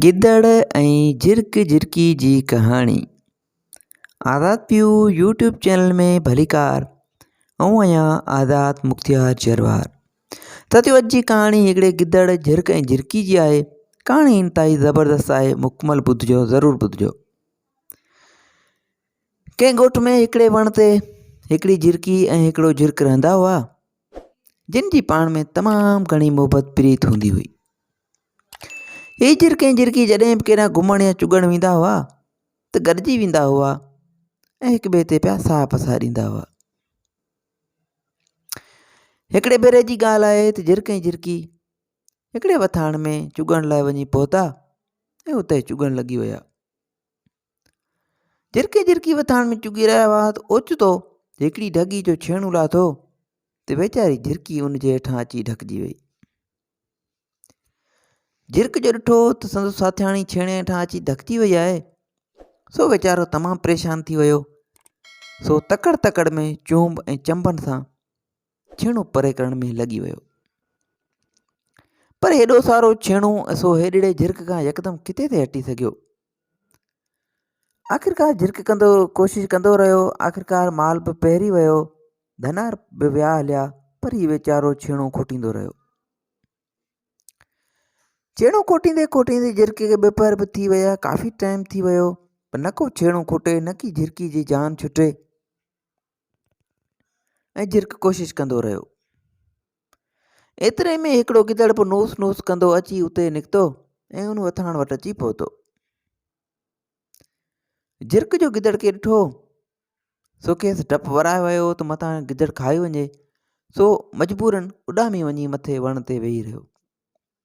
گدڙ ۽ جرڪ جرڪي جي ڪهاڻي آزاد پيو يوٽيوب چينل ۾ ڀليڪار آئون آهيان آزاد مختيار جروار سچ پچ جي ڪهاڻي هڪڙي گدڙ جرڪ ۽ جرڪي جي آهي ڪهاڻي انتهائي زبردست آهي مڪمل ٻڌجو ضرور ٻڌجو ڪنهن ڳوٺ ۾ هڪڙي وڻ تي هڪڙي جرڪي ۽ هڪڙو جرڪ رهندا هئا جن جي پاڻ ۾ تمام گهڻي محبت پريت هوندي هئي هي جرڪ ۽ جرڪي جڏهن به ڪيڏانهن گهمڻ يا چڳڻ ويندا هئا ته گڏجي ويندا هئا ۽ هڪ ٻئي تي پيا ساهه پساريندا هئا هڪڙي ڀيري جي ڳالهه آهي ته جرڪ ۽ جرڪي هڪڙي وٿاڻ ۾ چڳڻ لاء وڃي پهتا ۽ اتي چڳڻ لڳي ويا جرڪ ۽ جرڪي وٿاڻ ۾ چڳي رهيا هئا ته اوچتو هڪڙي ڍڳي جو ڇيڻو لاٿو ته ويچاري جرڪي ان جي هيٺان اچي ڍڪجي وئي جرڪ جو ڏٺو ته سندس ساٿياڻي ڇيڻي هيٺان اچي ڌڪجي وئي آهي سو ويچارو تمام پريشان ٿي ويو سو تڪڙ تڪڙ ۾ چونب ۽ چنبن سان ڇيڻو پري ڪرڻ ۾ لڳي ويو پر هيڏو سارو ڇيڻو سو هيڏڙي جرڪ کان يڪدم ڪٿي ٿي هٽي سگهيو آخرڪار جھرڪ ڪندو ڪوشش ڪندو رھيو. آخرڪار مال به پهري ويو. ڌنار به ويا هليا پر هي ويچارو ڇيڻو کوٽيندو رهيو. ڇيڻو کوٽيندي کوٽيندي جھرڪي کي ٻه پهر به ٿي ويا ڪافي ٽائيم ٿي ويو پر نه ڪو ڇيڻو کوٽي نه ڪي جھرڪي جي جان ڇٽي. ۽ جرڪ ڪوشش ڪندو رهيو. ايتري ۾ هڪڙو گدڙ به نوس نوس ڪندو اچي اتي نڪتو ۽ ان وٿاڻ وٽ اچي پهتو. جرڪ جو گدڙ کي ڏٺو سو کيس ڊپ ورائي ويو ته متان گدڙ کائي وڃي سو مجبورن اڏامي وڃي مٿي وڻ تي ويهي رهيو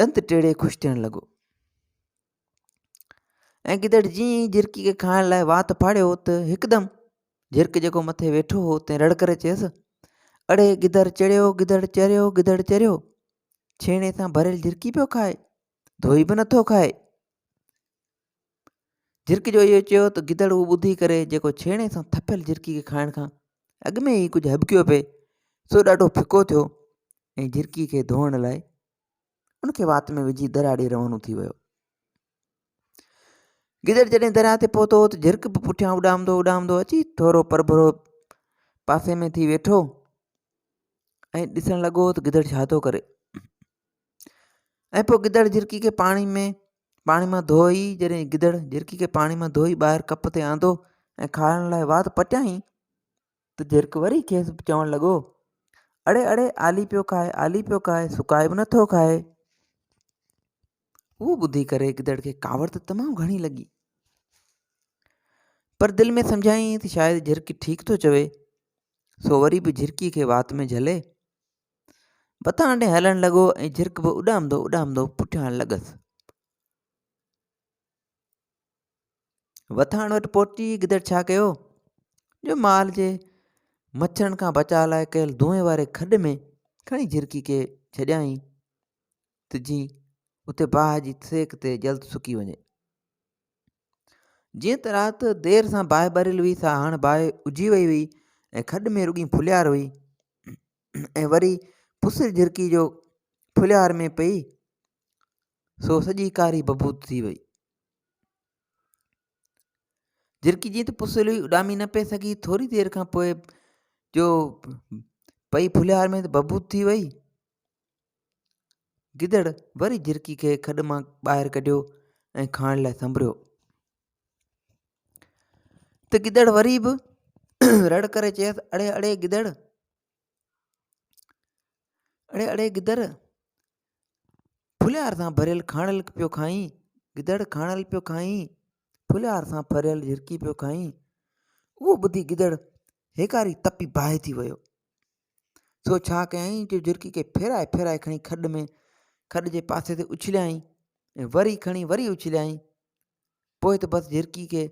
ڏند ٽيڙي خوش ٿيڻ لڳو ۽ گدڙ جيئن ئي جھرڪي کي کائڻ لاء وات ڦاڙيو ته هڪدم جھرڪ جيڪو مٿي ويٺو هو تنهن رڙ ڪري چيس اڙي گدر چڙيو گدڙ چريو گدڙ چريو ڇيڻي سان ڀريل جھرڪي پيو کائي ڌوئي به نٿو کائي جھرڪي جو اهو چيو ته گدڙ اهو ٻڌي ڪري جيڪو ڇيڻي سان ٿڦيل جھرڪي کي کائڻ کان اڳ ۾ ئي ڪجهه هٻڪيو پئي سو ڏاڍو ڦڪو ٿيو ۽ جھرڪي کي ڌوئڻ لاء ان کي وات ۾ وجھي درياء ڏي روانو ٿي ويو گدڙ جڏهن درياء تي پهتو ته جھرڪ به پٺيان اڏامندو اڏامندو اچي ٿورو پرڀرو پاسي ۾ ٿي ويٺو ۽ ڏسڻ لڳو ته گدڙ ڇا ٿو ڪري ۽ پوء گدڙ جھرڪي کي پاڻي ۾ پاڻي مان ڌوئي جڏهن گدڙ جهرڪي کي پاڻي مان ڌوئي ٻاهر ڪپ تي آندو ۽ کارڻ لاء وات پٽيائين ته جهرڪ وري کيس چوڻ لڳو اڙي اڙي آلي پيو کائي آلي پيو کائي سڪائي به نٿو کائي اهو ٻڌي ڪري گدڙ کي ڪاوڙ ته تمام گهڻي لڳي پر دل ۾ سمجهائين ته شايد جهرڪي ٺيڪ ٿو چوي سو وري به جهرڪي کي وات ۾ جهلي مٿان ڏي هلڻ لڳو ۽ جهرڪ به اڏامندو اڏامندو پٺيان لڳس وٿاڻ وٽ پهچي گدڙ ڇا ڪيو جو مال جي مڇرن کان بچاء لاء ڪيل دونهين واري کڏ ۾ کڻي جھرڪي کي ڇڏيائين ته جي اتي باهه جي سيڪ تي جلد سڪي وڃي جيئن ته رات دير سان باهه ٻريل هئي سا هاڻ باهه اجهي وئي هئي ۽ کڏ ۾ رڳي ڦلهيار هئي ۽ وري پسر جهرڪي جو ڦلهيار ۾ پئي سو سڄي ڪاري ببوت ٿي وئي جهرڪي جيئن ته پسر هئي اڏامي نه پئي سگهي ٿوري دير کان پوء جو پئي ڦلهيار ۾ ته ببوت ٿي وئي گدڙ وري جھرڪي کي کڏ مان ٻاهر ڪڍيو ۽ کائڻ لاء سنبريو ته گدڙ وري به رڙ ڪري چيس اڙي اڙي گدڙ اڙي اڙي گدڙ ڦليار سان ڀريل کاڻل پيو کائين گدڙ کاڻل پيو کائين ڦليار سان ڀريل جھرڪي پيو کائين اهو ٻڌي گدڙ هيڪاري تپي باهه ٿي ويو سو ڇا ڪيائين جو جھرڪي کي ڦيرائي ڦيرائي کڻي کڏ ۾ کڏ جي پاسي تي اڇليائين ۽ وري کڻي وري اڇليائين پوء ته بس جھرڪي کي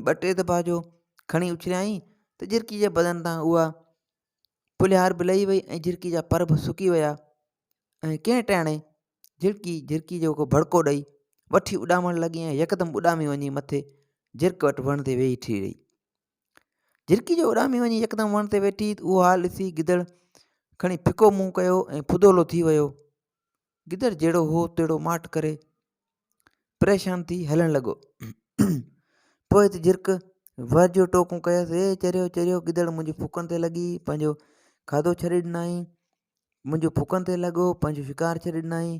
ٻه ٽي دفعا جو کڻي اڇليائين ته جھرڪي جي بدن تان اها پلهار به لهي وئي ۽ جھرڪي جا پر به سڪي ويا ۽ ڪنهن ٽاڻي جھرڪي جھرڪي جو کو ڀڙڪو ڏئي وٺي اڏامڻ لڳي ۽ يڪدم اڏامي وڃي مٿي جھرڪ وٽ وڻ تي ويهي ٺھي رهي جھرڪي جو اڏامي وڃي يڪدم وڻ تي ويٺي اھو حال ڏسي گدڙ کڻي ڦڪو منهن ڪيو ۽ ڦدولو ٿي ويو گدڙ جهڙو هو تهڙو ماٺ ڪري پريشان ٿي هلڻ لڳو پوء ته جھرڪ ور جو ٽوڪون ڪيس اي چريو چريو گدڙ منهنجي ڦڪن تي لڳي پنهنجو کاڌو ڇڏي ڏنائين منهنجو ڦڪن تي لڳو پنهنجو شڪار ڇڏي ڏنائين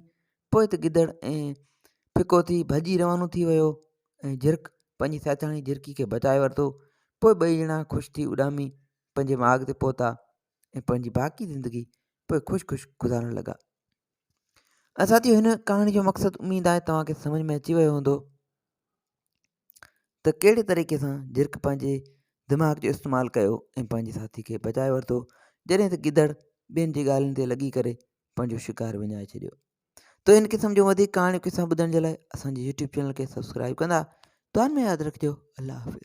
پوء ته گدڙ ۽ ڦڪو ٿي ڀڄي روانو ٿي ويو ۽ جرڪ پنهنجي ساٿياڻي جرڪي کي بچائي ورتو پوء ٻئي ڄڻا خوش ٿي اڏامي پنهنجي ماڳ تي پهتا ۽ پنهنجي باقي زندگي پوء خوش خوش گذارڻ لڳا ساتيو هن ڪهاڻي جو مقصد اميد آهي توهان کي سمجھ ۾ اچي ويو هوندو ته ڪهڙي طريقي سان جرڪ پنهنجي دماغ جو استعمال ڪيو ۽ پنهنجي ساٿي کي بچائي ورتو جڏهن ته گدڙ ٻين جي ڳالهين تي لڳي ڪري پنهنجو شڪار وڃائي ڇڏيو تو ان قسم جو وڌيڪ ڪهاڻيون قصا ٻڌڻ جي لاء اسان جي يوٽيوب چينل کي سبسڪرائب ڪندا دعا ۾ ياد رکجو الله حافظ